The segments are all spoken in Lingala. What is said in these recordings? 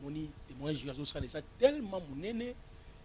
omoni témoignage oyo azosala eza tellement monene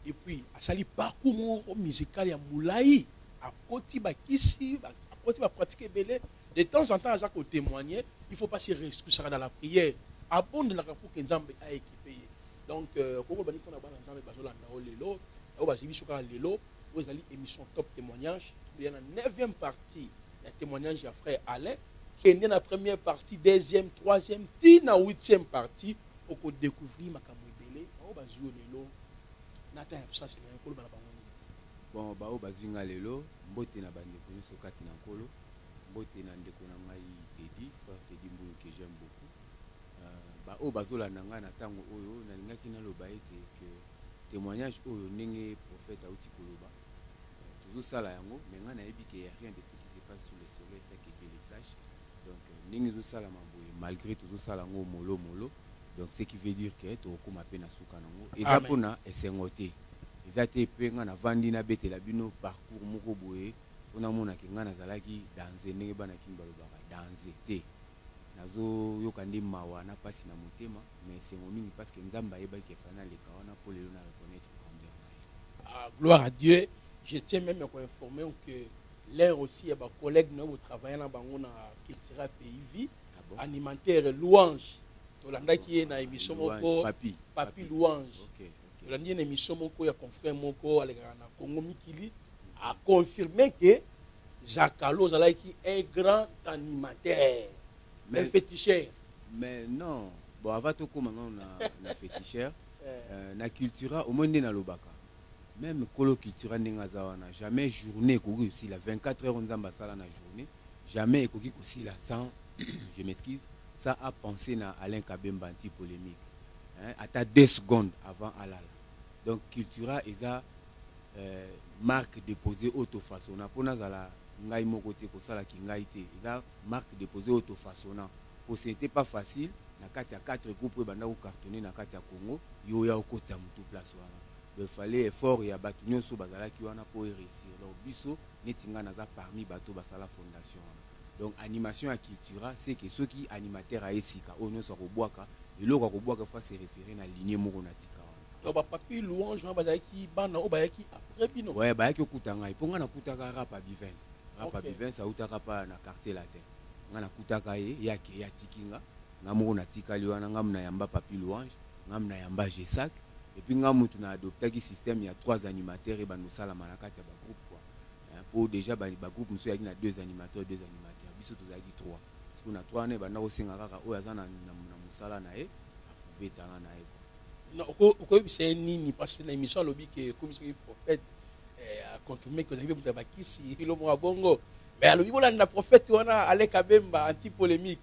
et puis asali parcours moko musical ya molai akoti bakisi akoti bapratique ebele de temps en temps aza kotémoigne il faut pas se reskusaka na la prière abondelaka mpo ke nzambe aekipe ye donc euh, kokobani mpo na bana nzambe bazolanda o lelo oyo bazwi biso kaka lelo oyo ezali émission top témoignage toya na 9e partie ya temoignage ya frère Alain kende na première partie deuxième troisième ti na huitième partie oko découvrir makambo ebele baoyo bazwi yo lelo na temps ya absence na yo koloba na bango nini bon baoyo bazwi nga lelo mbote na bandeko nyonso kati na nkolo mbote na ndeko na ngai tedi frère tedi mbuyu que j'aime beaucoup euh, baoyo bazolanda ngai na ntango oyo nalingaki naloba ete que témoignage oyo ndenge prophète auti koloba tozo sala yango mais nga nayebi ke ya rien de ce qui se passe sous le soleil ça que Dieu le sache donc euh, ndenge ezo sala maboye malgré tozo sala ngo molo molo donc ce qui veut dire que tokokoma pe na suka nango eza pona esengo te eza te pe nga na vandi na betela bino parcours moko boye pona mona ke nga nazalaki danze ndenge bana kimi balobaka danze te nazoyoka nde mawa na mpasi na motema mais esengo mingi parce que nzambe ayebaki efana leka wana mpo lelo na reconnaître grandeur na Ah, gloire à Dieu. Je tiens même à vous informer que l'un aussi ya bacollègue na yo botravaille na bango na cultura pays vie ah bon? animateur louange tolandaki ye na émission moko papi, papi louange okay, okay. tolandi ye na émission moko ya confrère moko alekaka na congo mikili aconfirme ke zakalo ozalaki un grand animateur mais, un féticheur mais non bon avant tokóma ngano na, na féticheur euh, na cultura omoni nde nalobaka meme kolo cultura ndenge aza wana jamais journée ekoki kosila 24 heures nzambe asala na journée jamais ekoki kosila sans je m'excuse ça a pensé na alain kabemba anti polémique hein, ata 2 secondes avant alala donc cultura eza euh, marque déposée oyo tofaçonna mpo nazala ngai moko te kosalaki ngai te eza Marque deposee oyo to façonna po ce n'etait pas facile na kati ya quatre groupes oyo ebanda ko cartonner na kati ya Congo, yo oya okotisa mutu place wana. Donc il fallait effort ya batu nionso bazalaki wana po e reussir. Donc biso neti nga naza parmi batu oyo basala fondation wana. Donc animation ya Cultura ce que soki animateur aye sika oyo nionso akobwaka eloko akobwaka il faut a se referer na lignee moko na tika wana. donc bapapi louange wana bazalaki bana oyo bayaki après bino ouais bayaki okuta ngai mpo ngai nakutaka rapa bivence rapa okay. bivence autaka pa na quartier latin ngai nakutaka ye ye ake ye atiki nga ngai moko natikali wana ngai munayamba papi louange ngai munayamba gesac epuis ngai mutu na adoptaki système ya trois animateur ye bando osalama na kati ya bagroupe kua mpo déjà bagroupe mosusu yaki na deux animateur deux animateur biso tozalaki trois Siku na toi wana ebanda kosenga kaka oyo aza na musala na ye aprouve talent na ye okoyebisa ye nini parce que na émission alobi ke ekomisaki prophète eh, aconfirme ke ozali mpe moto ya bakisi elo moko ya bongo mais alobi bolanda prophète wana aleka bemba anti polémique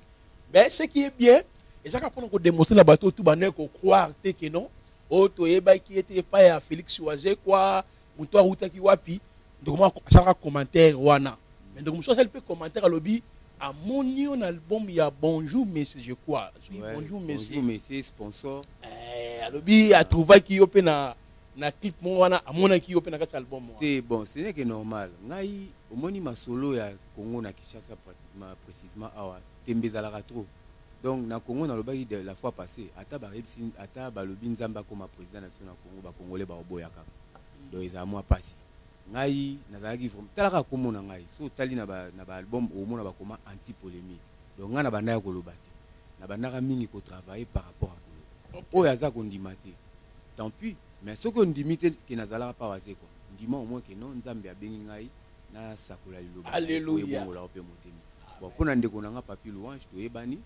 mais ce qui est bien ezaka mpona kodemontre na bato oyo tu bandaki kocroire te ke non oyo toyebaki ye te epai ya félix wazekwa moto awutaki wapi ndeko moko asalaka commentaire wana mais ndeko mosusu asali mpe commentaire alobi amoni yo na album ya bonjour messi je crois azwi Ouais, bonjour messi bonjour monsieur sponsor Eh, alobi atrouvaki yo mpe na na clip moko wana amonaki yo mpe na kati ya album wana te bon ce n'est que normal ngai omoni masolo ya congo na kinshasa pratiquement précisement awa tembe ezalaka trop Donc na Congo na lobaki de la fois passe ata ba yebisi ata ba lobi nzambe akoma president na biso na Congo ba congolais ba oboya kaka donc eza mwa pasi ngai nazalaki vraiment tala kaka kombo na ngai so tali na ba na ba album au mona ba koma anti polemique donc ngai na banda ya koloba te na bandaka mingi ko travailler par rapport à koloba oyo aza kondima te tant pis mais soki ondimi te ke nazalaka pa waze quoi ndima au moins ke non nzambe abengi ngai nasakola liloba ebongolaka mpe motema bon mpo na ndeko na nga papi louange toyebani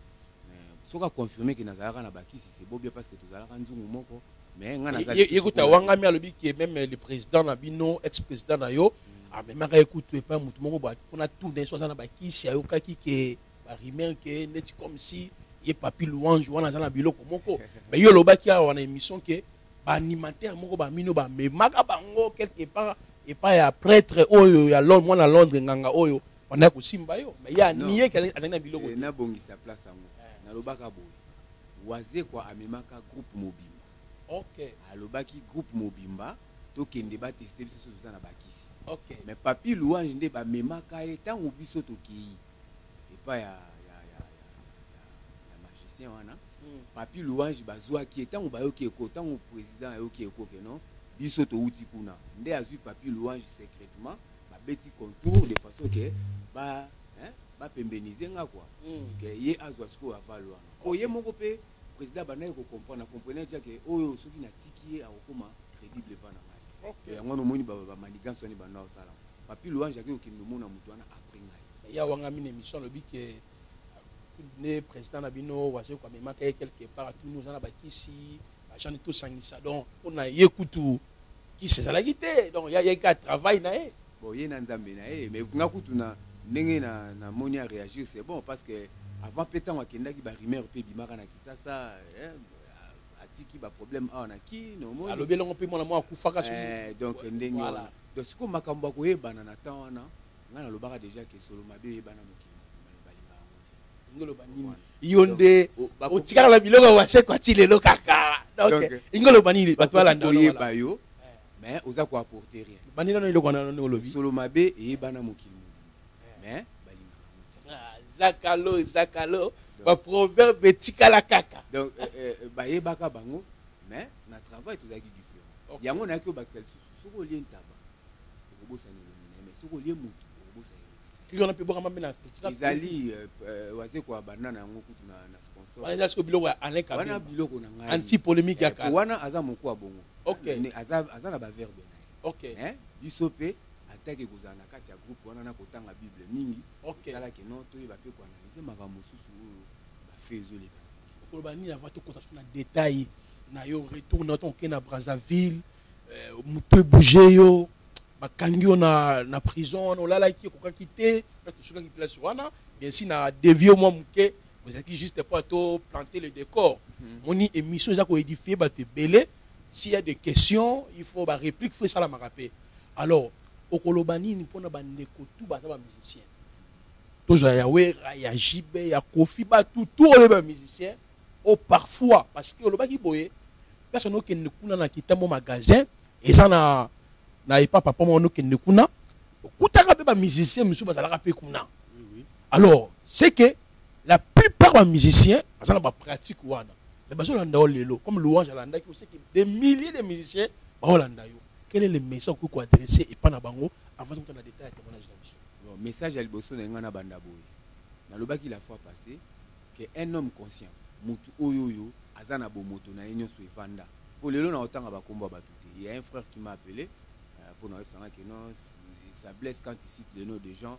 soki aconfirme ke nazalaka na bakisi sebobia parce que tozalaka nzungu moko mais nga nazayekuta wangami alobi ke meme le président na bino ex président na yo mm. amemaka ye kutu epai motu moko mpona tuna ye so aza na bakisi ayokaki ke barimer ke neti comme si ye papi louange wana aza na biloko moko mais yo olobaki awa na émission ke ba animateur moko ba mino ba memaka bango quelque part epai ya prêtre oyo ya londre mwana londre nganga oyo banda kosimba yo mais ya nie ke azali na biloko eh, nabongisa place yango eh. nalobaka boye wazekwa amemaka groupe mobimba okay. alobaki groupe mobimba tokende bateste biso soki toza na bakisi okay. mais papi louange nde bamemaka ye ntango biso tokei epai ya, ya, ya, ya, ya, ya magicien wana mm. papi louange bazwaki ye ntango bayoki eko ntango président ayoki eko ke non biso towuti kuna nde azwi papi louange secrètement babeti contour de façon ke ba hein, bapembenize nga kua mm. ke ye azwa sikoyo avale wana mpo okay. ye moko mpe président abandaki kocomprendre akomprene tia ke oyo soki natiki ye akokoma crédible epa na ngai okay. yango wana omoni bamanigance wani banda osala papi louange akei kokende omona moto wana après ngai mais ya wanga mine mission alobi que ne président na bino wazo ko mema ke quelque part tout nous na bakisi ba gens tout sangisa donc on a ye kutu qui se la te donc ya ye ka travail na ye bon ye na nzambe na ye mais nga kutu na ndenge na na moni a réagir c'est bon parce que avant pe tango akendaki ba rumeur pe bimaka na kisasa eh, atiki ba problème awa na ki no moni alobi longo pe mwana mwa akufaka eh, donc ndenge wana donc siko makambo akoyebana na temps wana nga na lobaka deja ke solo mabe oyebana mokili balinga yango te ingo loba nini yo nde otikala na biloko ya washe kwa ti lelo kaka donc ingo loba nini bato balanda oyeba yo eh. mais oza ko apporter rien bandi nano eloko wana ndenge olobi solo mabe eyebana mokili eh. mais balinga yango te ah, zakalo zakalo ba proverbe etikala kaka donc eh, bayebaka bango mais na travail tozalaki différent yango nayaki obakisa lisusu soki olie ntaba okobosana elongi na ye mais soki olie motu okobosana elongi wana mpe bwaka mambe na ezali euh, euh, wazeko ya banda na yango kutu na sponsor wana eza siko biloko ya alain kabila wana biloko na ngai anti polemique ya eh, kala wana aza moko ya bongo okay aza aza na ba verbe na ye okay eh biso mpe atake kozala na kati ya groupe wana na kotanga bible mingi okay esalaki no toyeba mpe koanalyse makambo mosusu oyo bafe ezoleka koloba nini avant tokota so na détail na yo retour na yo tokokende na brazzaville eh, moto ebouge yo bakangi yo na, na prison wana olalaki okokaki te place tosukaki place wana bien si na devie mwa moke ozalaki juste mpo ato planter le décor mhm. moni émission eza koédifie bato ebele s'il y a des questions il faut baréplique fo esalamaka mpe alors okoloba nini mpo na bandeko tu baza bamusicien tozwa ya wera ya jibe ya kofi bato tu oyo bamusicien Oh parfois parce que olobaki boye place no kende kuna na kitambo magasin eza na na epa papa moko no kende kuna okutaka pe ba musiciens mususu bazalaka pe kuna alors c'est que la plupart ba musiciens baza na ba pratique wana mais bazo landa yo lelo comme louange alandaki c'est que des milliers de musiciens bao landa yo quel est le message okoki ko adresser epa na bango avant tokutana détail ya témoignage na biso message ya liboso na ngai na banda boye nalobaki la fois passée que un homme conscient mutu oyo oyo aza na bomoto na ye nionso evanda po lelo na otanga ba kombo ya batu te il ya un frère qui m'a appelé euh, pona oyebisa nga que non ça blesse quand il cite le nom de gens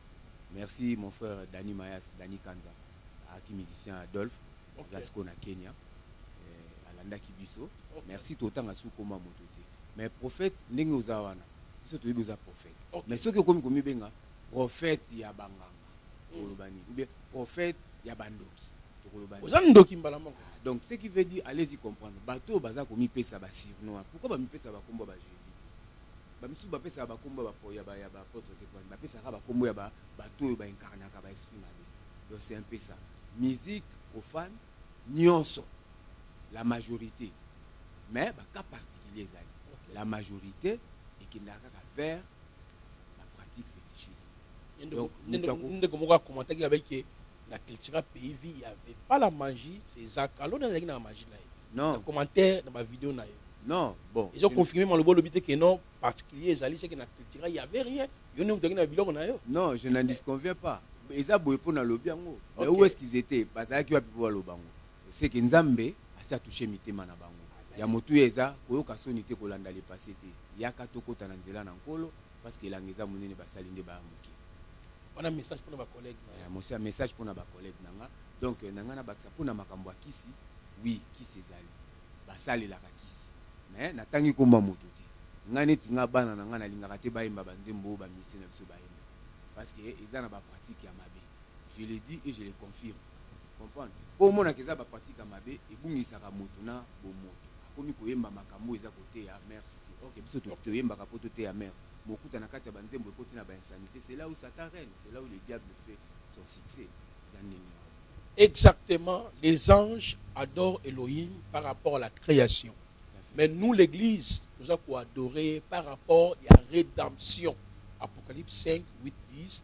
merci mon frère Dani Mayas Dani Kanza aki musicien Adolphe okay. aza siko na Kenya euh, alandaki biso okay. merci totanga su koma moto te mais prophète ndenge oza wana biso toyebi oza prophète okay. mais soki okomi komibenga prophète ya banganga tokoloba nini oubien prophète ya bandoki tokoloba oza ndoki mbala moko ah, donc ce qui veut dire allez-y comprendre bato oyo baza komipesa basirnoi pourquoi bamipesa bakombo ya bajeu bamisusu bapesaka bakombo ya bapotre te pwani bapesaka bakombo ya bato oyo bainkarnaka baesprit mabe donc c'est un peu ça musique profane nyonso la majorité mais bacas particulier ezali la majorité ekendaka kaka vers la pratique fétichisme ndeko moko akomentaki abai ke na cultura pays vie il y avait pas la magie c'est zaka loni azalaki na magie na ye non commentaire na bavideo na ye non bon ezo confirme maloba olobi te ke non particulier ezali seke na cultura il y avait rien yo nde motaki na biloko na yo non je n'en disconviens pas eza boye mpo nalobi yango mais où est ce qu'ils étaient bazalaki wapi mpo baloba yango seke nzambe asi atouche mitema na bango ya motuya eza koyoka soni te kolanda lepase te yaka tokɔta na nzela na nkolo Parce que elanga eza munene basali nde baya muke. Wana message pona ba collègue na. Eh, monsieur message pona ba collègue na nga. Donc na nga na bakisa pona makambo ya kisi. Oui, kisi ezali. Basalelaka kisi. Mais natangi komba moto te. Nga neti nga bana na nga nalingaka te bayemba ba nzembo oyo ba musicien na biso bayemba. Parce que eza na ba pratique ya mabe. je le dis et je le confirme comprendre po omonaka eza ba pratique ya mabe ebungisaka moto na bomoto akomi koyemba makambo oyo eza koteya mers te ok biso to- toyembaka po toteya mers mokuta na kati ya banzembo ekoti na ba insanité c'est là où satan règne c'est là où le diable fait son succès eza ndenge wana. Exactement, les anges adorent Elohim par rapport à la création. Tout à fait. Mais nous, l'Église, nous avons adorer par rapport à la rédemption. Apocalypse 5, 8, 10,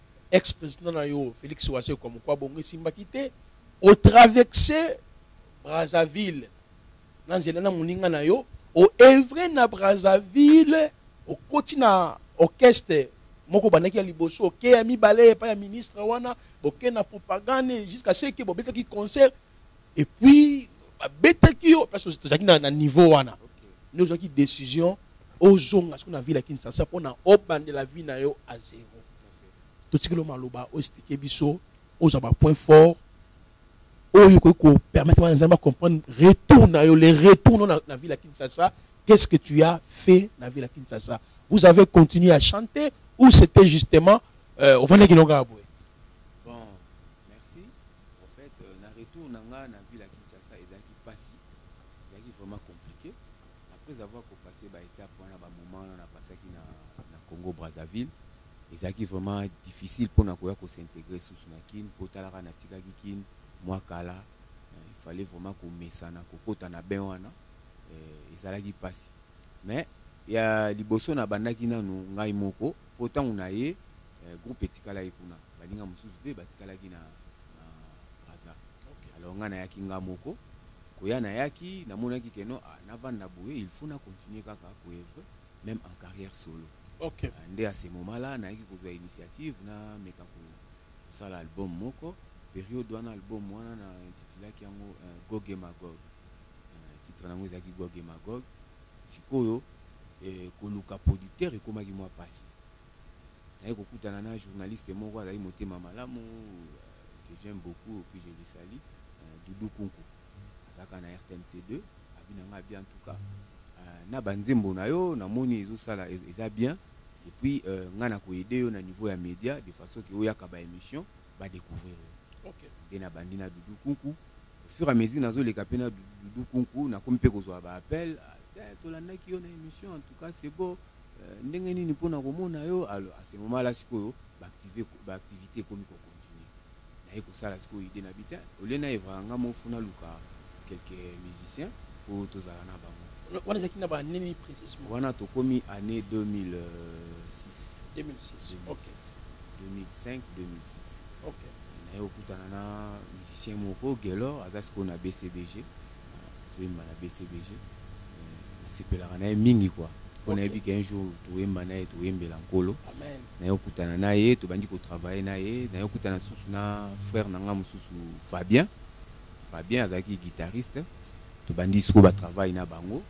ex president na yo Felix Wasekwa mokwa bongo esimbaki te o traverse Brazzaville na nzela na moninga na yo o evre na Brazzaville okoti na orchestre moko bandaki ya liboso oke ya mibale epai ya ministre wana boke na propagande jusqu'à ce que bobetaki concert et puis babetaki yo parce que tozalaki na, na niveau wana nde ozwaki décision ozonga soki na ville ya kinshasa mpo na obandela vie na yo a zero totikelo maloba oexplike biso ozwa bapoint fort oyo okoki kopermettre bana nzambe bacomprendre retour na yo le retour no na, na ville ya kinshasa qu'est-ce que tu as fait na ville ya kinshasa vous avez continué à chanter ou c'était justement euh, ovandaki longa ya boye Merci. En fait, euh, na retour na nga na ville ya Kinshasa ezalaki pasi, ezalaki vraiment compliqué. Après avoir passé ba étape wana ba moment na passaki na na Congo Brazzaville, ezalaki vraiment difficile pona koya ko s'intégrer sous na Kin, potalaka na tikaki Kin mwa kala, euh, il fallait vraiment ko mesana ko kota na bain wana, euh, ezalaki pasi. Mais ya liboso na bandaki nanu ngai moko, po tango na ye euh, groupe etikalaki kuna. Baninga mosusu mpe batikalaki na, na Brazza. Okay. Alors nga nayaki nga moko koya nayaki namonaki ke non ah, navanda boye il faut na continuer kaka koevre même en carrière solo okay. Ah, nde à ce moment là nayaki kozwa initiative nameka kosala album moko periode wana album wana na intitulaki yango uh, goge magog uh, titre nango ezalaki goge magog sikoyo eh, koluka producteur ekomaki mwa mpasi naye kokutana na journaliste moko azali motema malamu que j'aime beaucoup puis je le salue Doudou Kunku azalaka na RTNC2 abi na ngai bien en tout cas na banzembo na yo namoni ezosala eza bien et puis euh, ngai nakoyede yo na niveau ya média de façon ke oyaka ba émission badécouvrir yo okay. nde nabandi na Doudou Kunku au fur et à mesure nazoleka mpe na Doudou Kunku nakomi mpe kozwa ba appel ah, tolandaki yo na émission en tout cas c'est beau Euh, ndenge nini mpo na komona yo alors à ce moment là sikoyo baactivité ekomi kocontinue naye kosala sikoyo idée na bita olie na evaka nga mofu naluka quelques musiciens oyo tozala na bango wana ezalaki na baannée nini précisement wana tokomi année 2006 2006 2005 2006 naye okutana na musicien moko gelor aza sikoyo na bcbg azoyemba na bcbg nasepelaka na ye mingi kua mpo nayebi ke un jour toyemba na ye toyembela nkolo naye okutana na ye tobandi kotravaille na ye naye okutana susu na frère na ngai mosusu fabien fabien azalaki guitariste tobandi siko batravaille na bango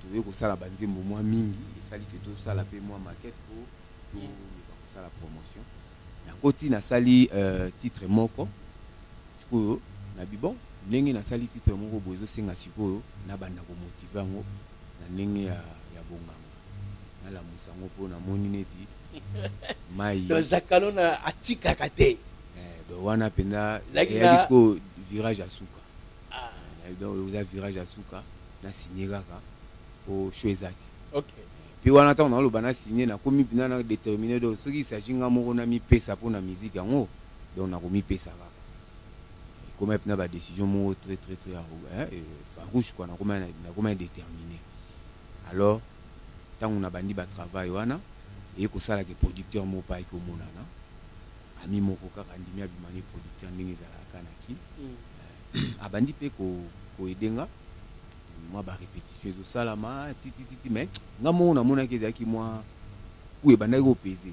toye kosala banzembo mwa mingi esali ke tosala mpe mwa makete mpo toloba kosala promotion nakoti nasali euh, titre moko sikoyo na bibon ndenge nasali titre moko boye ezosenga sikoyo nabanda komotive yango na ndenge ya, ya bonganga nalamusa yango mpo namoni neti mai zakalo na atikaka te eh, do wana mpenza eyaki sikoyo virage ya suka ah. eh, donc oza virage ya suka na signe kaka mpo show eza te okay. Puis wana tango na loba na signer na komi pina na determiner donc soki il s'agit nga moko na mi pesa po na musique yango donc na komi pesa kaka koma pina ba décision moko très très très hein, euh, farouche quoi na koma na koma déterminer alors tango na bandi ba travail wana et ko sala ke producteur moko pa ko monana ami moko kaka ndimi abimani producteur ndenge ezalaka na ki mm. euh, abandi pe ko ko aider nga mwa ba repetition ezosalama titititi mais nga moko namonaki ezalaki mwa ku ebandaki kopeze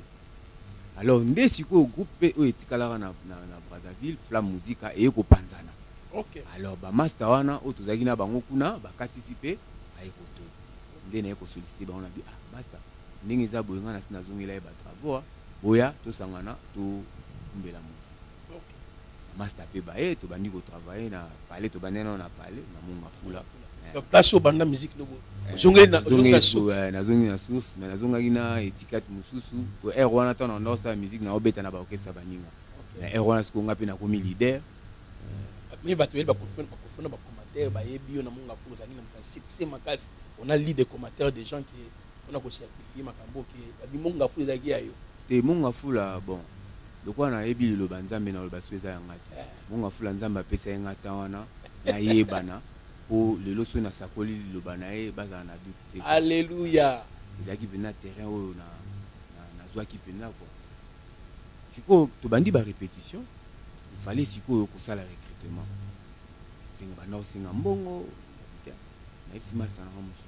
alors nde sikoyo groupe mpe oyo etikalaka na, na, na brazzaville flamme musika eye kopanzana okay. alors bamasta wana oyo tozalaki na bango kuna bakatisi mpe aye koto nde naye kosolicite bango na bi ah, masta ndenge eza boye nga nasi nazongela ye bato aboa boya tosangana tokumbela mo masta mpe baye tobandi kotravaille na palais tobandi nano na palais na moni mafula eh. place oyo banda miziki lobo eh, nazongi na source mais nazongaki na etikate mosusu po aire wana ntango na ndosala miziki na obeta na baorkestre baninga na aire wana sikoyo ngai mpe nakomi leader mais bato yeli bakofona bacommentaire bayebi yo na monga fula ozalaki na succès makasi on a lu des commentaires des gens qui pona ko certifier makambo ke ya bimbo ngafula ezalaki ya yo te mo ngafula bon lokola nayebi liloba nzambe na loba so eza ya nga te eh. mo ngafula nzambe apesa ye nga tan wana nayebana po lelo so nasakoli liloba na ye bazala na doute te alleluya ezalaki mpenza terrain oyo na nazwaki mpenza kua sikoyo tobandi barépétition ifale sikoyo kosala recrutement esenga banda osenga mbongo nayebisi masta nanga mosusu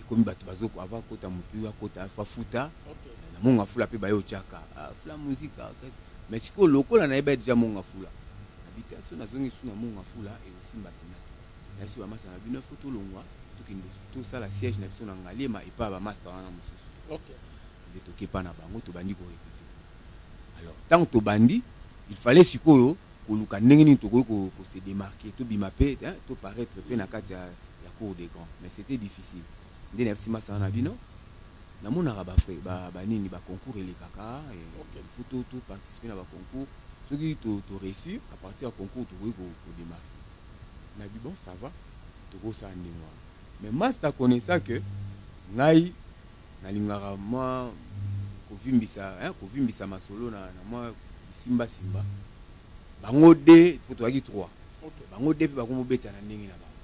ekomi bato bazoko ava akota motu akota alfa futa na mongo afula mpe baye otyaka afula muzika mais sikoyo lokola nayebi ya deja mongo afula habitation nazongi su na mongo afula ekosimba mpena nayebisi bamasta na bino efo tolongwa tokende tosala siège na biso na ngaliema epai bamasta wana mosusu nde tokepa na bango tobandi korepete alors ntango tobandi Il fallait sikoyo koluka ndenge nini tokoki ko, ko se démarquer, tobima pe, hein, to paraître pe na kati ya, ya cour des grands. Mais c'était difficile. Nde nayebisi masanga na bino, namonaka ba frais, ba, ba nini, ba concours elekaka, et okay. il faut to, to participer na ba concours. Soki to, to réussir, à partir ya concours tokoki ko, ko démarquer. Na bi bon, ça va, tokosala ndenge wana. Mais Masta connaissant que ngai Nalingaka mwa kovimbisa hein, kovimbisa masolo na, na mwa bisimba simba. Bango de po tozalaki trois. Okay. Bango de pe bakomi kobeta na ndenge na bango.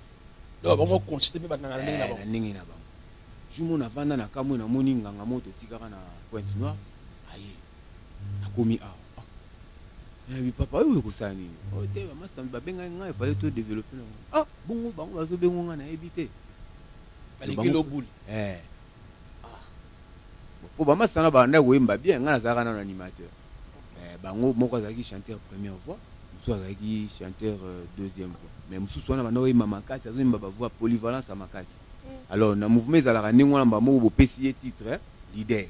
Donc bango consiste pe banda na ndenge na eh, bango. Na ndenge na bango. Jour mona vanda na kamwe na moni nganga moto tikaka na Pointe Noire. Aye. Akomi awa. nalobi papa oyo ekosala nini oyo te bamasta babengaki ngai efale to développe nango ah bongo bango bazobengo ngai nayebi te baleki lobuli eh po ba masanga ba nda koyemba bien nga nazalaka na animateur eh bango moko azalaki chanteur première voix mosusu azalaki chanteur euh, deuxième voix mais mosusu wana banda koyemba makasi azoyemba ba voix polyvalence ya makasi mm. alors na mouvement ezalaka ndenge wana mbamoko bopesi ye titre eh, leader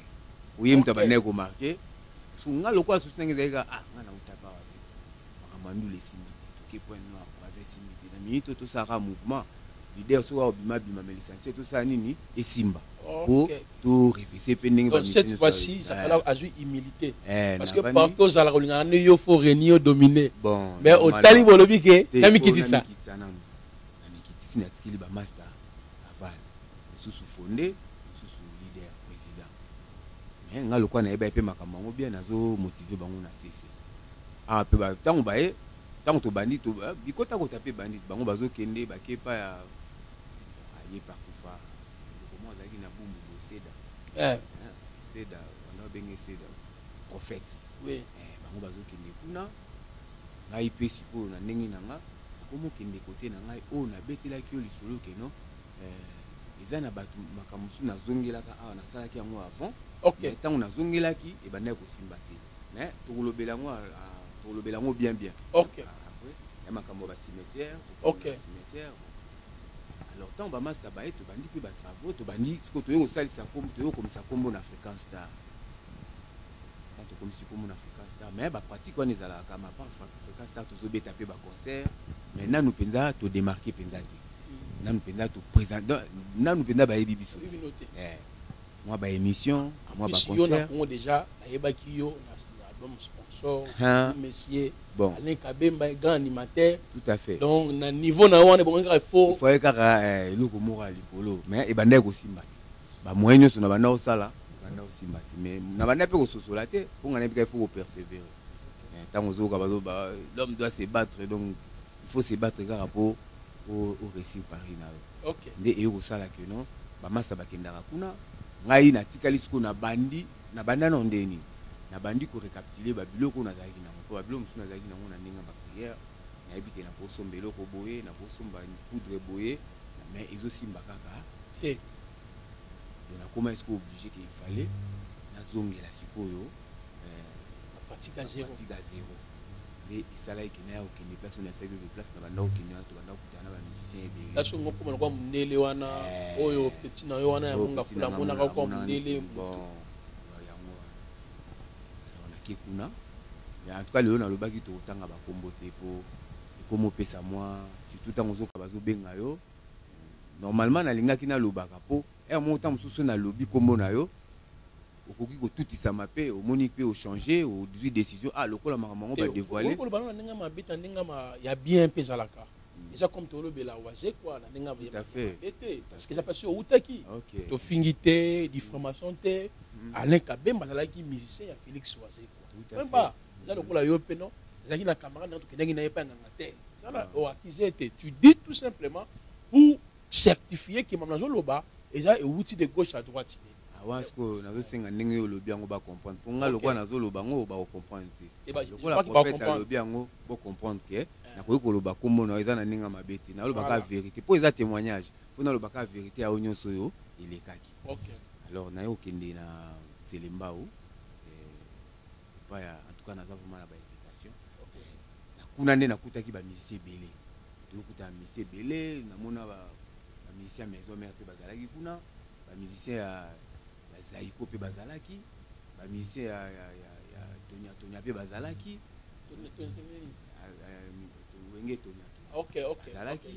oye moto abandaki komarke so nga lokola susi ndenge ezalaki kaka ah nga nautaka wazi makambo ya ndule esimbi te toke point noir braza esimbi te na minute oyo tosala kaka mouvement leader soki aobima bima mais l'essentiel tosala nini esimba po to revese mpe ndenge Donc, cette fois-ci zakala azwi humilité Eh, parce que nabandi- partout ozalaka olingaka nde yo fo reni yo domine bon mais normal. otali bolobi ke Te, namikitisa po namikitisa nanu. namikitisi natikeli bamasta aval mosusu fonde mosusu leader président me nga lokola nayebaki mpe makambo yango bien nazomotive bango na sese Ah, pe ba tango ba ye tango to bandi to ba bikota kota pe bandi bango bazo kende ba kepa ya aye pa kufa comment azalaki na bumbu bo seda eh seda wana benge seda prophète oui eh bango bazo kende kuna ngai pe sikoyo na ndenge na nga komo kende kote na ngai oyo na betelaki yo lisolo ke non eh eza na bato makambo mosusu nazongelaka awa nasalaki yango avant okay. ntango nazongelaki ebandaki kosimba te mais tokolobela yango ah, tokolobela yango bien bien ok après ya makambo ya bacimetière ok cimetière alors ntango bamasta baye tobandi mpe batravaux tobandi sikoyo toye kosalisa kombo toye kokomisa kombo na fréquence star tokomisi kombo na fréquence star mais bapratique wana ezalaka ma part fréquence star tozobeta mpe baconcert mais nanu mpenza todemarke mpenza te mm. nanu mpenza toprésente nanu mpenza bayebi biso te mwa ba émission mwa ba concert yo na Congo déjà ayebaki yo na album sponsor hein? monsieur bon Alain Kabemba grand animateur tout à fait donc na niveau na wana bon kaka faut faut kaka eh, eloko moko ya likolo mais ebandaki kosimba te ba moyen nyonso na banda osala banda osimba te mais na banda mpe kososola te mpo ngai nayebi kaka faut kopersévérer ntango ozoyoka bazoba l'homme doit se battre donc il faut se battre kaka po o o réussir paris na yo Ok. nde eye kosala que non bamasta bakendaka kuna ngai natikali sikoyo nabandi nabanda nao ndenge nini nabandi ko recapitule babiloko oyo nazalaki nango mpo babiloko mosusu nazalaki nango na ndenge ya bapriere nayebi ke nakosomba eloko boye nakosomba poudre boye mais ezosimba kaka Te. donc nakomaki sikoyo oblige ke ifale nazongela sikoyo eh, Pratique à zéro. pratique à zero nde esalaki ke naya kokende place oyo nayebisaki oke place na banda kokende wana tobanda kokutana na bamusicien ebele place oyo mokoma lokwa mondele wana eh. oyo petit na yo wana yango ngafula amonaka lokwa mondele yango wana nake kuna mais en tout cas lelo nalobaki tokotanga bakombo te po ekomi opesa mwa surtout ntango ozoka bazobenga yo normalement nalingaki nalobaka po ere moko ntango mosusu nalobi nkombo na yo okoki kotutisama mpe omoni mpe ochange ozwi décision ah lokola makambo yango badevoile koloba na ndenge mabe ta ndenge ya bien mpe ezalaka hmm. eza comme tolobela wazekwa na ndenge mabe te parceke eza mpasi outaki tofingi te diffamation te hmm. alain kabemba azalaki musicien ya félix wazekwa mba eza lokola yo mpe no ezalaki na camarade na tokendaki na ye mpe anganga te eza na oakize te tu dis tout simplement pour certifier que maman azoloba eza ewuti de gauche à droite te awa sikoyo nazosenga ndenge yo olobi yango bacomprendre mpo ngai lokola nazoloba yango oyo bakocomprendre te eh lokola profete alobi yango bocomprendre ke eh. nakoki koloba nkombo na yo eza na ndenge ya mabe te nalobaka verité mpo eza témoignage mpo nalobaka verité yango nyonso oyo elekaki alors naye okende na selembao epai ya en tout cas naza vraiment na bahésitation na kuna nde nakutaki bamusicien ebele toyokuta na musicien ebele namona bamusicien ya maison mare mpe bazalaki kuna bamusicien ya zaiko mpe bazalaki bamusicien ya, ya, ya, ya tonia tonia mpe bazalaki wenge tonia azalaki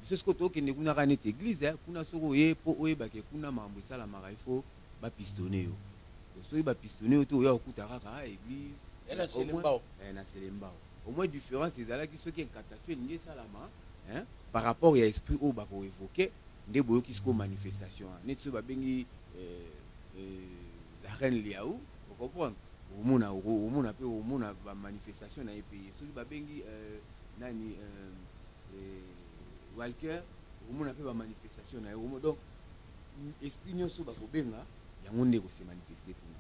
biso sikoyo tokende kuna kaka neti église kuna soki oye mpo oyebake kuna makambo esalamaka il faut ba pistonner yo soki ba pistonner yo te oya okuta kaka ah, église eh, na selembao eh, na selembao au moins différence ezalaki soki incantation elingi esalama hein par rapport ya esprit oyo bako évoquer nde boyoki sikoyo manifestation wana neti soki babengi eh, eh, la reine liau ocomprendre omona omona mpe omona bamanifestation na ye mpe ye soki babengi eh, nani eh, eh, walker omona mpe bamanifestation na ye donc esprit nyonso bakobenga yango nde ekose manifeste kuna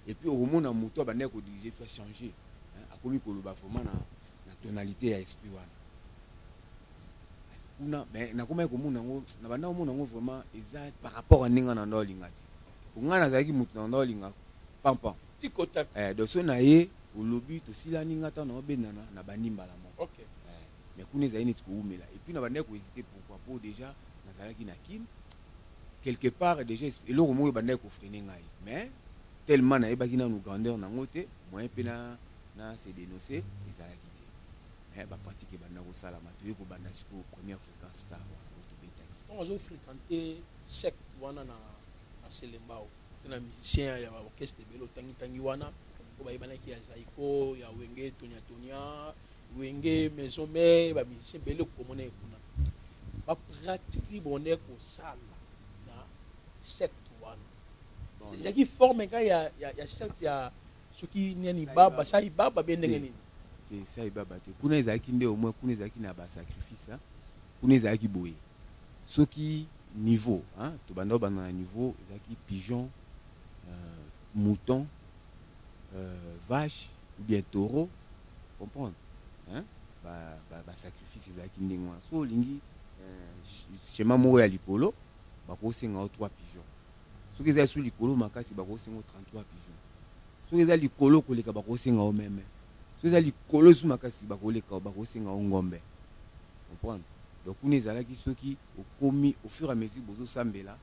epuis okomona moto abandaki kodirige epuis achange akomi koloba vraimen na, na tonalité ya esprit wana kuna me nakomaki komona yango na banda komona yango vraimen eza par rapport ya ndenge na nda olinga te po ngai nazalaki moto na nda olinga pampan eh, donc so na ye olobi tosilani ngai ntango naobendana na bandi mbala moko okay. mais kuna ezali neti kowumela et puis na bandaki kohésite pourquoi mpo déjà nazalaki na kin quelque part déjà eloko moko ebandaki kofrene ngai mais tellement nayebaki nanu grandeur nango te moyen mpe na, na se denonce ezalaki te mais bapratique ebanda kosalama toye kobanda sikoyo première fréquence star wana oyo tobetaki ozofréquente secte wana na selembao na musicien ya ba orchestre ebele otangi tangi wana oyo bayebanaki ya zaiko ya wenge tonia tonia wenge maison mare ba musicien ebele okomona ye kuna ba pratique libonde kosala na secte wana ezalaki forme ka ya, ya, ya secte ya soki nani baba sai baba be ndenge nini te sai baba te kuna ezalaki nde omoi kuna ezalaki na basacrifice kuna ezalaki boye soki niveau hein tobanda obanda na niveau ezalaki pigeon euh, mouton euh, vache ou bien taureau comprendre hein ba ba, ba sacrifice ezalaki ndenge wana so olingi euh, schéma moko ya likolo bakosenga yo 3 pigeon soki eza su likolo makasi bakosenga yo 33 pigeon soki eza likolo koleka bakosenga yo meme soki eza likolo esu makasi bakoleka bakosenga o ngombe comprendre donc kuna ezalaki soki okomi au fur et à mesure bozosambela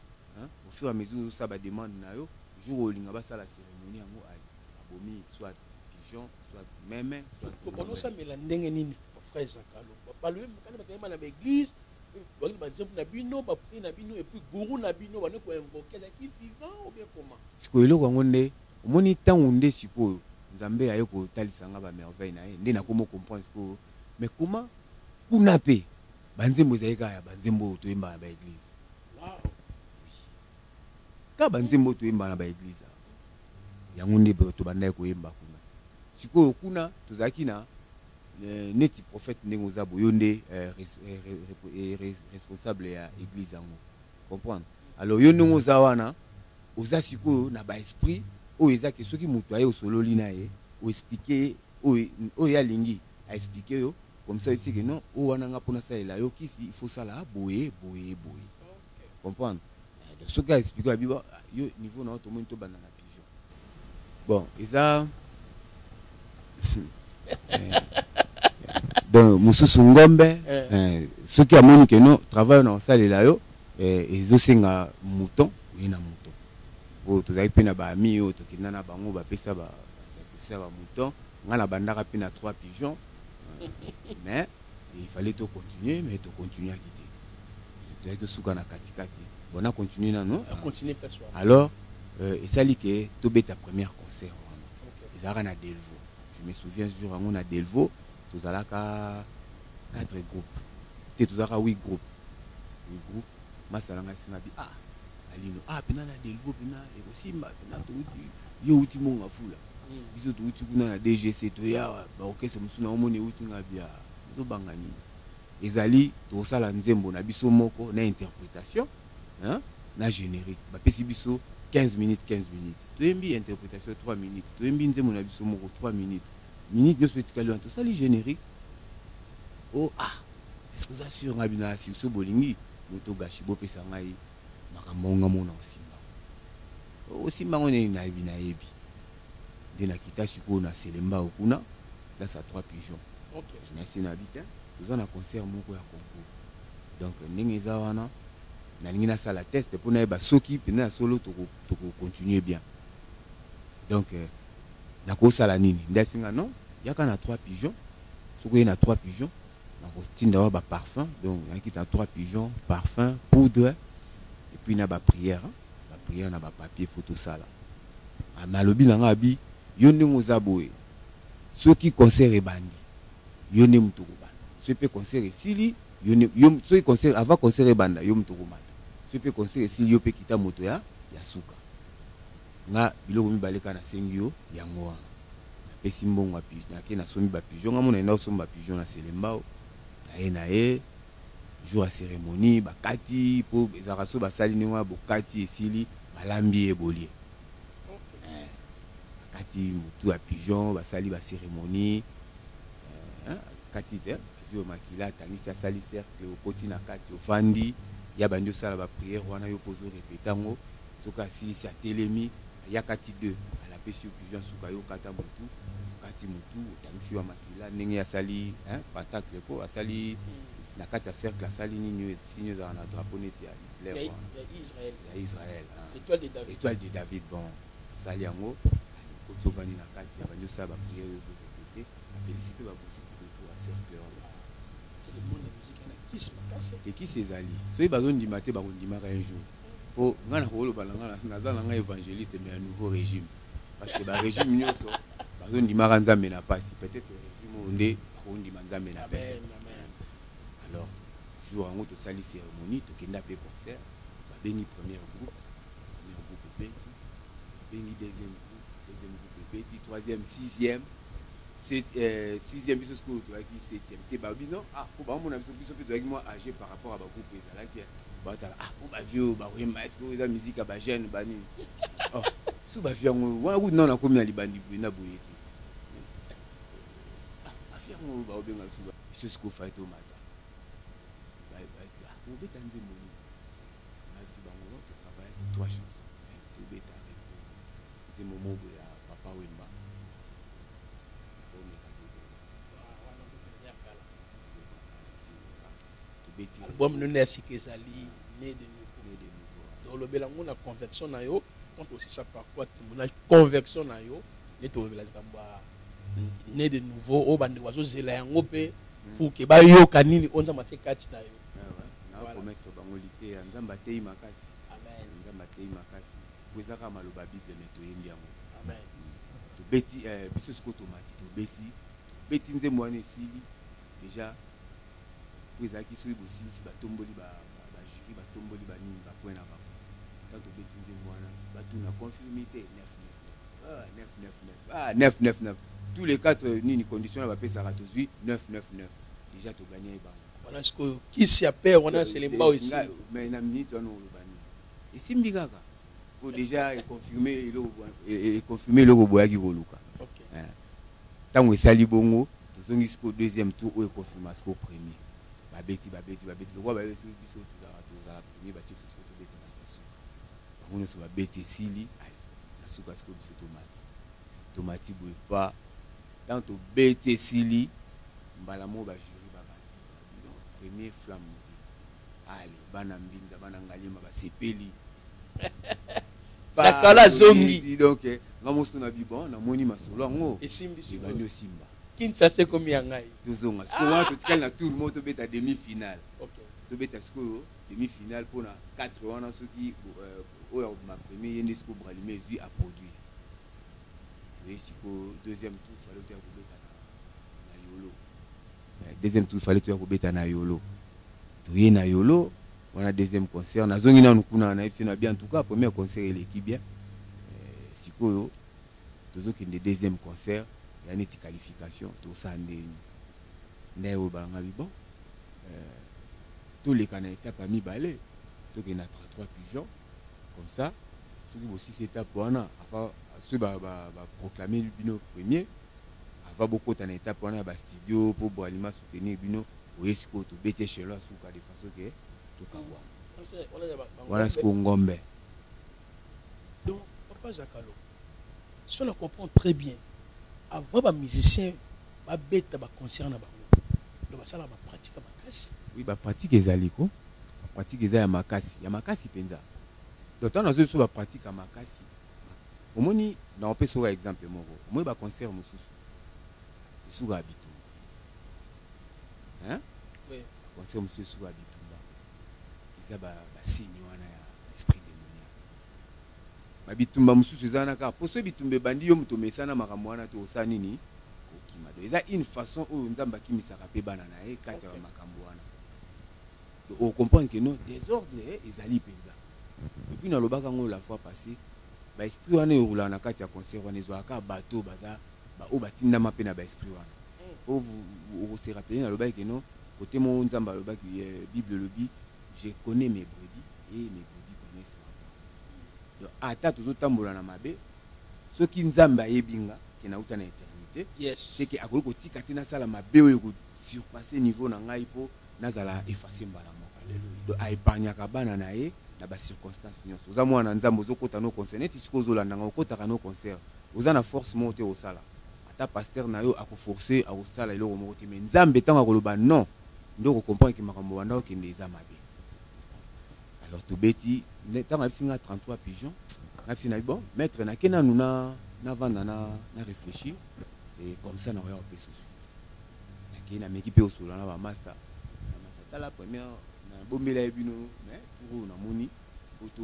au fur et à mesure ozosala bademande na yo jour olinga basala cérémonie yango abomi soit pigeon soit meme soitonozosambela ndenge nini frère zakalo balobi kani bakayema na baeglise bakini banzembo na bino bapri na bino epuis gourou na bino bande koinvoke ezalaki vivant obien comment sikoyo eloko yango nde Omoni tangu nde sikoyo Nzambe aye ko talisa nga ba merveille na ye nde na komo comprendre sikoyo mais comment kuna pe ba nzembo ezali kaka ya ba nzembo oyo toyembaka na ba eglise kaka ba nzembo toyembaka na ba eglise yango nde tobandaki koyemba kuna sikoyo kuna tozalaki na eh, neti prophète ndenge oza boye yo nde eh, eh, responsable ya église yango comprendre alors yo ndenge oza wana oza sikoyo na ba esprit oyo eza ke soki moto aye osololi na ye oexplike ye oyo ye alingi aexplike yo comme ça oyebisi ke non oyo wana nga mpo nasalela yo kisi il faut sala boye boye boye comprendre eh, soki aexplike abi ah, yo niveau na yo tomoni tobanda na pigeon bon eza eh, donc mosusu ngombe eh. soki amoni ke non travail na osalela yo ezosenga mouton Oye na mouton oyo tozalaki pe na ba amis oyo tokenda na bango ba pesa ba sacrifice ba mouton nga na bandaka pe na trois pigeon mais il fallait to continuer mais to continuer ki te tozalaki tosuka na kati kati bon na continuer nano alors euh, esali ke tobeta première concert wana okay. ezalaka na Delvaux je me souviens jour yango na Delvaux tozalaka quatre groupes te tozalaka huit groupes huit groupes masala ngai singa bi ah alino ah pena na delvo pena ekosimba pena touti yo uti monga fula hmm. biso touti kuna na dgc toya baokese mosusu na omoni euti ngai bia ezobanga nini ezali tokosala nzembo na biso moko na interpretation hein? na générique bapesi biso 15 minutes 15 minutes toyembi interpretation 3 minutes toyembi nzembo na biso moko 3 minutes minute nyonso etikali wana tosali générique o oh, ah Est-ce que oza sur nga bina si so bolingi moto gashi bo pesa ngai makambo yango nga mona osimba ngo osimba ngo nini na bina yebi nde na kita sikoyo na selemba okuna place à trois pigeons okay. na se na bita toza na concert moko ya concours donc ndenge eza wana nalingi nasala test mpo nayeba soki mpenza ya solo tokocontinue bien donc euh, nakosala nini nde asinga non yaka na trois pigeon soki oye na trois pigeon nakotinda wa ba parfum donc nayaki na trois pigeon parfum poudre et puis na ba prière ba prière na ba papier faut tosala ah, mais alobi na nga abi yo ndenge oza boye soki concert ebandi yo nde moto okobanda soki mpe concert esili soki concert avant concert ebanda yo moto okomata soki mpe concert esili yo mpe kita moto ya ya suka Nga biloko mibale kaka nasengi yo yango wana napesi mbongo ya pigeon nake nasombi ba pigeon nga mona yenda osomba pigeon na selembao naye naye jour ya ceremonie bakati po ezalaka soki basali ndenge wana bokati esili balambi ye bolie eh, bakati mutu ya pigeon basali ba ceremonie eh, eh, kati te azwi yo makila atangisi asali cercle okoti na kati ofandi ya bandi osala ba priere wana yo mpo ozo repeta yango soki asilisi atelemi ayakati de alapesi yo pigeon suka yo kata mutu okati mutu otangisi ba makila ndenge asali patacle po asali hmm. na kati ya cercle asali nini oyo sini ezala na drapeau neti ya hitler ya israel étoile de david bon asali yango alokoti ovandi na kati ya bandi osala bapriere yo ozokote apelisi mpe babuju kudoto ya cercle wana tekisi ezali soki bazondima te bakondimaka un jour po nga nakoloba na nga naza na nga évangéliste mais ya nouveau régime parce que barégime nyonso bazondimaka nzambe na mpasi peut-être régime oyo nde bakondima nzambe na pete alors jour yango tosali cérémonie tokenda mpe concert babengi première groupe première groupe ebeti babengi deuxième groupe deuxième groupe ebeti troisième sixième Euh, sixième biso sikoyo tozalaki septième te balobi non ah po bamona biso biso mpe tozalaki mwa age par rapport ya bagroupe ezalaki batala ah po bavie oyo bakoyemba esike oyo eza miziki ya bajeune banini oh, so bavie yango wana kutu nao nakomi na libandi boye na boye te ah, bavie yango oyo bakobenga biso biso sikoyo fai tomata obeta nzembo nini nabisi bango totravaillaki trois chanson Tobeta Rembo nzembo mogo ya Papa Wemba Bomeka Tobeta Album nene ya sika ezali Ne de Nouveau Tolobela yango na convection na yo quand aussi ça par quoi tomona convection na yo nde tolobela likambo ya Ne de Nouveau oyo bandeko bazozela yango mpe hmm. pour ke bayoka nini oyo nzambe atie kati na yo ah nakomettre bango liteya nzambe ateyi makasi nzambe ateyi makasi po eza kaka maloba ya bible me toyembi yango tobeti eh, biso sikoyo tomati tobeti tobeti nzembo wana esili deja po ezalaki soki bosilisi batomboli bajuri batomboli banini bapoint na bango ntango tobeti nzembo wana batuna confirme te 999 tous les quatre nini condition na bapesaka tozwi 999 deja toganyaki bango wana sikoyo kisi ya père wana selembao esili mais na minute wana oloba nini esimbi kaka po déjà econfirme eloko econfirme eloko boyaki koluka ntango eh. esali bongo tozongi sikoyo deuxième tour oyo econfirma sikoyo premier babeti babeti babeti lokola babeti biso tozalaka tozala premier batie biso sikoyo tobeta bato ya suka bango nyonso babeti esili na suka sikoyo biso tomati tomati boye pa Tant to beti esili mbala moko ba jury ba bandi donc premier flamme musique ale bana mbinza bana ngaliema ba sepeli sakala zongi donc nga mosu na bi bon na moni masolo yango esimbisi bandi osimba kinshasa ekomi ya ngai tozonga sikoyo wana totikali na tour moko tobeta demi finale tobeta sikoyo demi finale mpo na 4 wana soki euh, oyo ma premier ye nde sikoyo bralime ezwi aproduire Oui, si pour deuxième tour, il fallait que tu aies na Yolo. Euh, deuxième tour, il fallait que tu aies na Yolo. Tu es na Yolo, on a deuxième concert. Na zongi na nukuna na epsi na bien en tout cas premier concert il est bien. Euh, sikoyo tozo kende deuxième concert, il y a une qualification, to sande. Ndaye o balanga bi bon. Euh, tous les canaux étape à mi balai, to kende na 33 pigeons. comme ça soki bosisi etape wana afa soki baproclame ba, ba bino premier ava bokota na etape wana ya bastudio mpo boalima soutenir bino oye sikoyo tobeti echelo ya suka de façon ke tokabwa wana sikoyo ngombe donc papa zakalo so na comprendre très bien avant ba musiciens ba beta ba concert na bango donc basala ba pratique ya makasi oui ba pratique ezali ko ba pratique eza ya makasi ya makasi penza donc tana zo so ba pratique ya makasi omoni na opesa oyo exemple moko omoni ba concert mosusu esuka ya bitumba hein oui. concert mosusu esuka ya bitumba eza ba, ba signe ba bitumba mususu eza wana kaka poso bitumba ebandi yo moto omesana makambo wana te osala nini okima do eza une façon oyo nzambe akimisaka mpe bana na ye kati ya bamakambo wana do ocomprendre ke non desordre eh, ezali mpenza epuis nalobaka yango la fois passé baesprit wana eyokolaka na kati ya concert wana ezwaka kaka bato oyo baza baoyo batindama mpe na baesprit wana po mm. okoserapeline alobaki ke non kote moko nzambe alobaki eh, bible elobi Je connais mes brebis et mes brebis connaissent ma voix. Donc ata tozo tambola na mabe soki Nzambe ayebi nga ke na uta na eternité, yes. c'est que akoki kotika te nasala mabe oyo ko surpasser niveau na ngai po nazala effacer mbala moko. Alléluia. Donc a épargnaka bana na ye na ba circonstances nyonso. Oza mwana na Nzambe ozo kota no concert neti siko ozo landa nga okotaka no concert. Oza na force moko te osala. Ata pasteur na yo ako forcer akosala eloko moko te mais Nzambe tango akoloba non nde oko comprendre que makambo banda kokende eza mabe alors tobeti ntango ayebisi nga 33 pigeon nabisi nabi bon maître nake nanu navanda na, na, na réfléchir e comme ça nakoya kopesa suite nakei nameki mpe osolola na bamasta bamasta tala première nabombela ye bino mais tour oyo namoni po to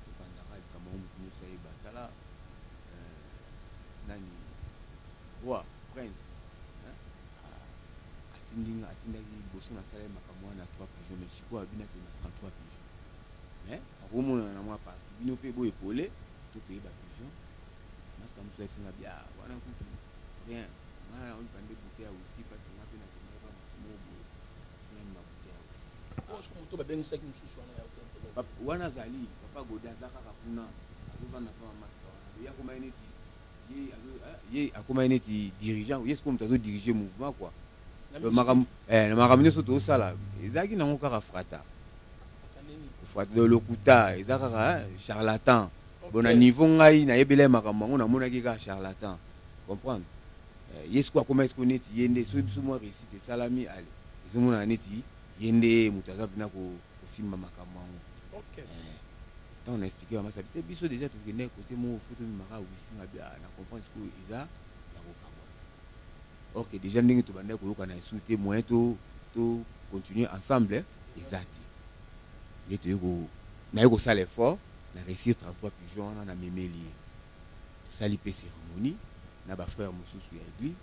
topanzaka likambo yango moto nyonso ayeba tala euh, nani roi prince atindi nga atindaki liboso nasala ye makambo wana na 3 pigeon mais sikoyo abina ke na 33 pigeon mais akomonana na mwa parti bino mpe boye pole to toyeba pigeon masta mosusu ayebisi nga bia wana kutu rien nga naonika nde bute ya wiski mpasi nga mpe nakendaka makomo boye sinani mabute ya wiski moto babengisaki mosusu wana ya wana azali papa goda aza kaka kuna azovanda mpa masta wana oya komai neti ye akomaki neti dirigeant ye sikoyo moto azo dirige mouvement kua eh, na makambo nyonso tozosala ezalaki nango kaka frata lokuta eza kaka eh, charlatan bona niveau ngai nayebela ye makambo yango namonaki kaka charlatan comprendre eh, ye sikoyo akomaki sikoyo neti ye nde soki biso mwa réussite esalami ale ezomonana neti ye nde moto aza mpena kosimba makambo yango okay. eh, ntango na explike bamasa te biso deja tokende kote moko fo tomimaka wifinga bia na comprendre sikoyo eza ya kokabwa or que deja ndenge tobandaki koyokana esu te moyen to, to continuer ensemble eza te nde toyei naye kosala effort na réussir 33 pigeon wana na memeli ye tosali mpe cérémonie na bafrère mosusu ya église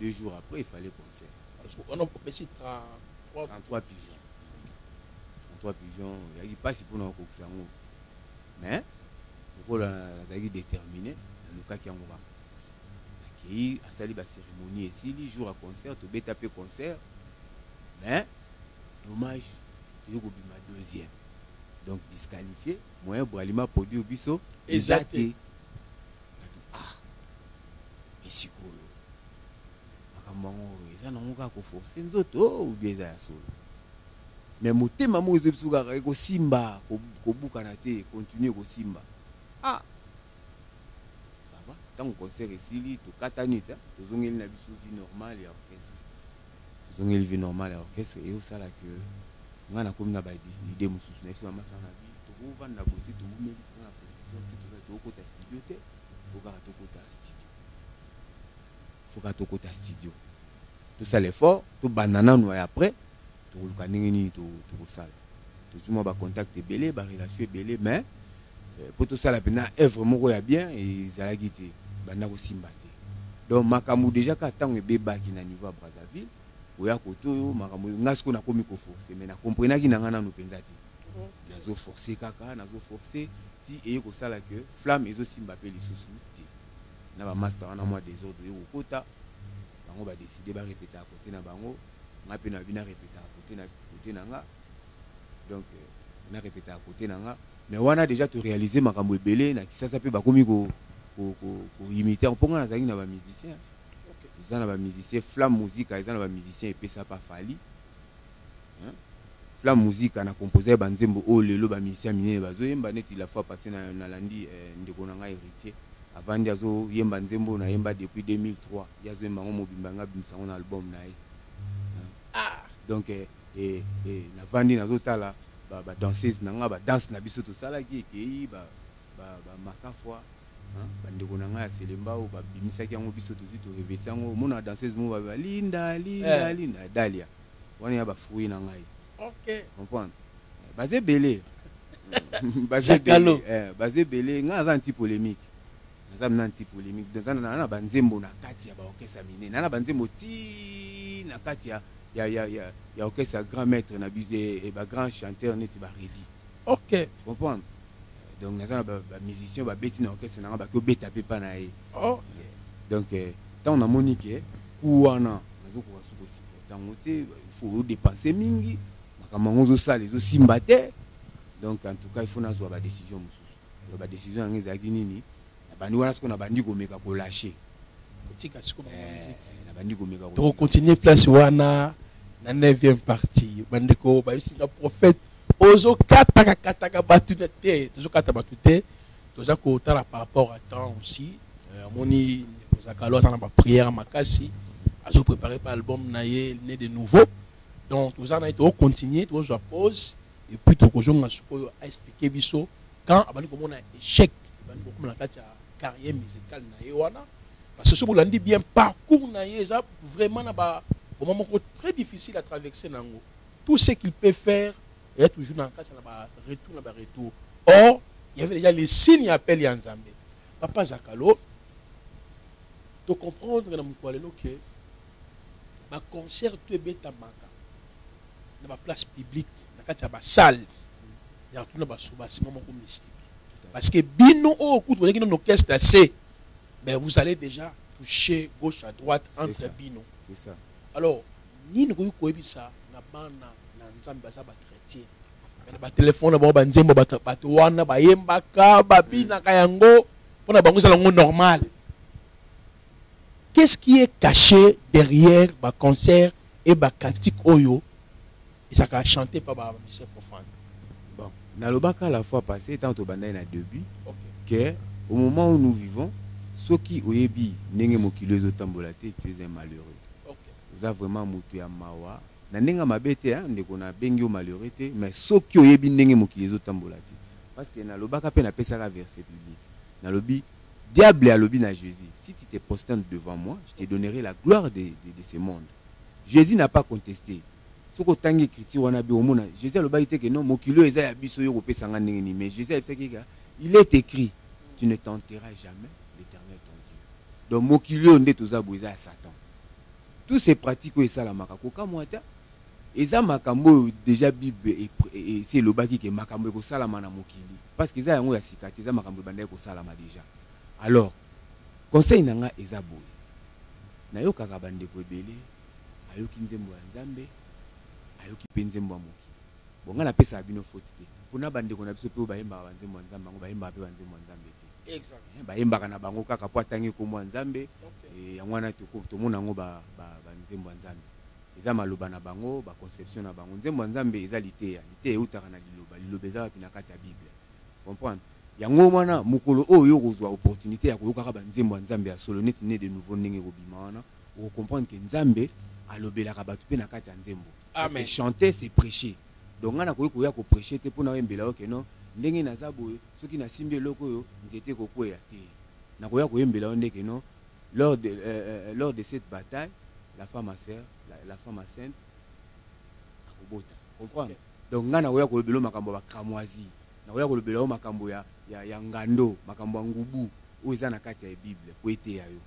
deux jours après il fallait concert wana opesi 33 pigeon 33 pigeon oyaki mpasi mpona kokokisa yango mais lokola nazalaki déterminé nalukaki yango kaka nakei asali bacérémonie esili jour ya concert tobeta mpe concert mais dommage toyei kobima deuxième donc disqualifié moyen bralima produire biso eza te ah esikoyo makambo yango eza nango kaka koforce nzoto oh, ubie eza ya solo me motema moko ezo biso kaka ekosimba kobukana te continue kosimba ah sava ntango concert esili tokatani ta tozongeli na biso vie normale ya orchestre tozongeli vie normale ya orchestre eosala ke ngai nakomi na baide mosusu na biso na masana na bi tokovanda boye te towumeli toza na production te toza tokokota studio te tokaka tokota foka tokota studio tosala effort tobanda nanu ya après tokoluka ndenge nini tokosala tozwi mwa bacontact ebele barelation ebele mais mpo euh, tosala mpena œuvre moko ya bien ezalaki te banda kosimba te donc makambo déjà kaka ntango ebebaki na niveau ya brazzaville oya koto oyo makambo oyo ngai sikoyo nakomi koforce mais nakomprenaki na ngai nanu mpenza te nazoforce kaka nazoforce ti eye kosala ke flamme ezosimba mpe lisusu na ba masta wana mwa desordre yo kokota bango ba décider ba répéter à côté na bango nga pe na bina répéter à côté na côté na nga donc euh, na répéter à côté na nga mais wana déjà to réaliser makambo ebele na kisasa pe bakomi ko ko ko, ko imiter mpo nga nazalaki na ba musicien okay. toza na ba musicien flamme musique eza na ba musicien epesa pa fali Flam Musica na composer ba nzembo oyo lelo ba musiciens minene bazo yemba neti la fois passée na nalandi eh, ndeko na ngai Héritier avandi azo yemba nzembo na yemba depuis 2003 ye azo yemba yango mobimba nga bimisa yango na album na ye ah donc eh, eh, eh, navandi nazo tala ba, ba danseuse na nga ba danse na biso tosalaki ekei ba, ba, ba makafwa bandeko na ngai ya selemba oyo babimisaki yango biso tozwi torevesi yango omona danseuse moko balinda linda eh. linda dalia wana ya ba fruits na ngai okay comprendre baza ebele baza ebele eh, baza ebele ngai naza anti polémique naza mna anti polémique naza na na banzembo na kati ya baorkestre ya minene na banzembo ti na kati ya ya ya ya ya orkestre ya grand maître na eh, eh, ba grand chanteur neti baredi ok comprendre donc naza na ba, ba musicien babeti na orchestre na nga baki obeta mpe mpa na ye oh. donc eh, ntango namoni ke ku wana nazokoka soki kosupporte yango te fo odepense mingi makambo yango ozosala ezosimba te donc en tout cas il faut nazwa badécision mosusu badécision yango ezalaki nini na bandi wana siko na bandi komeka kolashe kotika siko eh, na bandi komeka tokokontinue place wana na 9e partie bandeko bayebisi nga prophète ozokataka kataka bato na te tozokata bato te toza kotala par rapport à temps aussi euh, amoni zakalo aza na baprière makasi azoprépare pa album na ye ne de nouveau donc toza na ye tokocontinue tokozwa pause epuis tokozonga sikoyo aexplike biso quand abandi komona échec ebandi kokoma na kati ya carrière musicale na ye wana parce que soki olandi bien parcours na ye eza vraiment na ba moment moko très difficile à traverser na yango tout ce qu'il peut faire eza toujours na kati na ba retour na ba retour or il y avait déjà les signes ya appel ya nzambe papa zakalo tocomprendre na mokolo ya lelo ke Ba concerts tout ebetamaka na ba places publiques, na kati ya ba salles. Il y a tout le monde mystique. Parce que Bino, oh, écoute, vous avez un orchestre assez, mais vous allez déjà toucher gauche à droite entre ça. Bino. C'est ça. Alors, ni nous pouvons ça, na bana, na nzambe, baza ba chrétien. Mais ba téléphone, ba ba nzembo, ba ba toana, ba yembaka, ba bina kayango, pona bango ça lango normal. Qu'est-ce qui est caché derrière ba concert et ba cantique oyo ezaka chanter par ba musiciens profanes? Bon, nalobaka la fois passée tant tobandaki na début okay. que au moment où nous vivons soki oyebi ndenge mokili ezotambola te tu es un malheureux okay. oza vraiment motu ya mawa na ndenge ya mabe te ndeko nabengi yo malheureux te mais soki oyebi ndenge mokili ezotambola te parce que nalobaka mpe napesaka verset biblique nalobi Diable alobi na Jesus, si tu te prosternes devant moi, je te donnerai la gloire de, de, de ce monde. Jesus n'a pas contesté. Soki otangi écriture wana bi omona, Jesus alobaki te que non, mokili oyo eza ya biso yo kopesa nga ndenge nini, mais Jesus ayebisaki ka, il est écrit, tu ne tenteras jamais l'Éternel ton Dieu. Donc mokili oyo nde toza boye eza ya Satan. Tous ces pratiques oyo esalamaka kokamwa ata Eza makambo oyo deja bible esi elobaki ke makambo ekosalama na mokili parce que eza yango ya sika te eza makambo ebandaki kosalama deja alors conseil na nga eza boye nayokaka bandeko ebele ayoki nzembo ya nzambe ayoki mpe nzembo ya mokili bon nga napesaka bino foti te mpona bandeko na biso mpe oyo bayembaka banzembo ya nzambe yango bayembaka mpe banzembo ya nzambe te eh, bayembaka na bango kaka mpo atangi nkombo ya nzambe eh, yango wana tomona yango banzembo ya nzambe Eza maloba na bango, ba conceptions na bango. Nzembo ya Nzambe eza liteya. Liteya eutaka na Liloba. Liloba eza wapi? Na kati ya Bible. Comprendre? Yango wana, mokolo oyo yo okozua opportunite ya koyokaka ba nzembo ya Nzambe ya solo, neti Ne de nouveau ndenge ekobima wana, oko comprendre que Nzambe alobelaka batu mpe na kati ya nzembo. Parce que chanter, c'est precher. Donc ngai nakoki koya ko precher te mpo naoyembela yo que non, ndenge naza boye, soki nasimbi eloko oyo, nzete ekokweya. Te. Nakoya koyembela yo nde que non, Lors de, euh, euh, lors de cette bataille, la femme à sœur, la, la femme à sainte, akobota. Comprendre? Okay. Donc nga nakoya kolobela makambo ya cramoisie, nakoya kolobela yo makambo ya, ya, ya ngando, makambo ya ngubu oyo eza na kati ya Bible po eteya yo.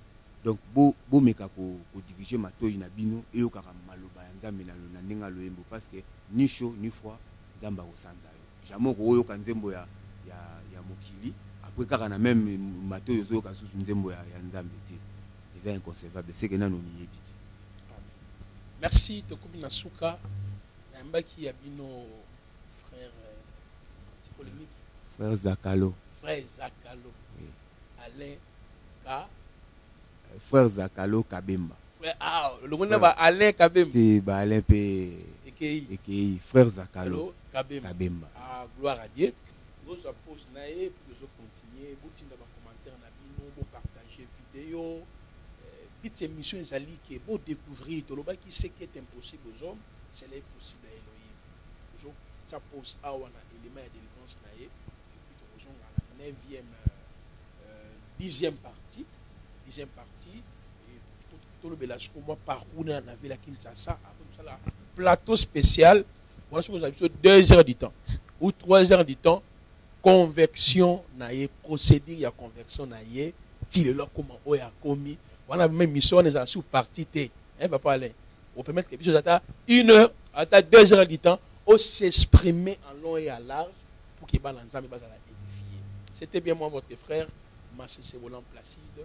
Donc bo bomeka ko, ko diriger matoyi na bino eyokaka maloba ya Nzambe na, na ndenge aloyembo parce que ni chaud ni froid Nzambe akosanza. Jamais okoyoka nzembo ya, ya, ya mokili apres kaka na meme matoyi ozoyoka susu nzembo ya, ya Nzambe te. Eza inconcevable, seke nanu omiyebi te. Merci, tokomi na suka. Nayambaki ya bino frère euh, polemique. Frère Zakalo. Frère Zakalo. Oui. Alain Ka. Euh, frère Zakalo Kabemba. Ah, longo na ba Alain Kabemba. Ti ba Alain pe ekei ekei frère Zakalo Kabemba. Kabemba. Ah gloire à Dieu. Bozo post na ye tozo continuer botinda ba commentaires na bino bo partager vidéo. Euh, Petite émission ezali que bo découvrir tolobaki ce qui est impossible aux hommes, c'est là possible à Elohim. Bozo sa post awa na élément ya délivrance na ye. Puis tozo ngana 9e 10e partie, 10e partie tolobela siko mwa parcours na na vela kinshasa après mosala plateau spécial wana soki ozala biso deux heures du temps ou trois heures du temps convection na ye procédure ya convection na ye ti lelo akoma oyo akomi wana meme mission wana ezala sur parti te hein, papa alain opermettre biso ata une heure ata deux heures du temps osexprimer en long et à large pour ke bana nzambe bazala édifié c'était bien moi votre frère masese bolan placide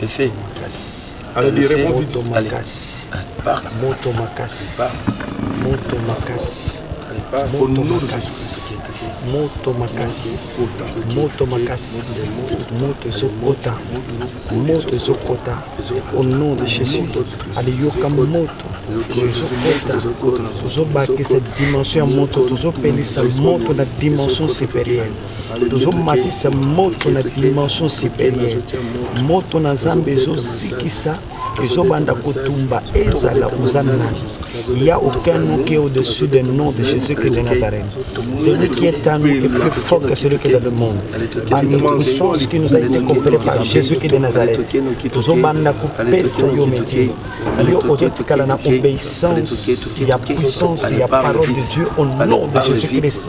Le fait. Alors, il répond vite. Allez. Par moto makasi. Moto makasi. Au nom de Jésus. Moto makasi. Moto makasi. Moto zokota. Moto zokota. Au nom de Jésus. Allez, yoka moto. Zobakisa dimension ya moto. Zopelisa moto na dimension supérieure. tozomatisa moto na dimension supérieure moto na nzambe ezozikisa ezobanda kotumba ezala oza nani il y a aucun nom qui est au-dessus du nom de Jésus-Christ de Nazareth celui qui est en nous est plus fort que celui qui est dans le monde en notre sens qui nous a été conféré par Jésus-Christ de Nazareth tozobanda kopesa yo metier yo ozotikala na obéissance ya puissance ya parole de Dieu au nom de Jésus-Christ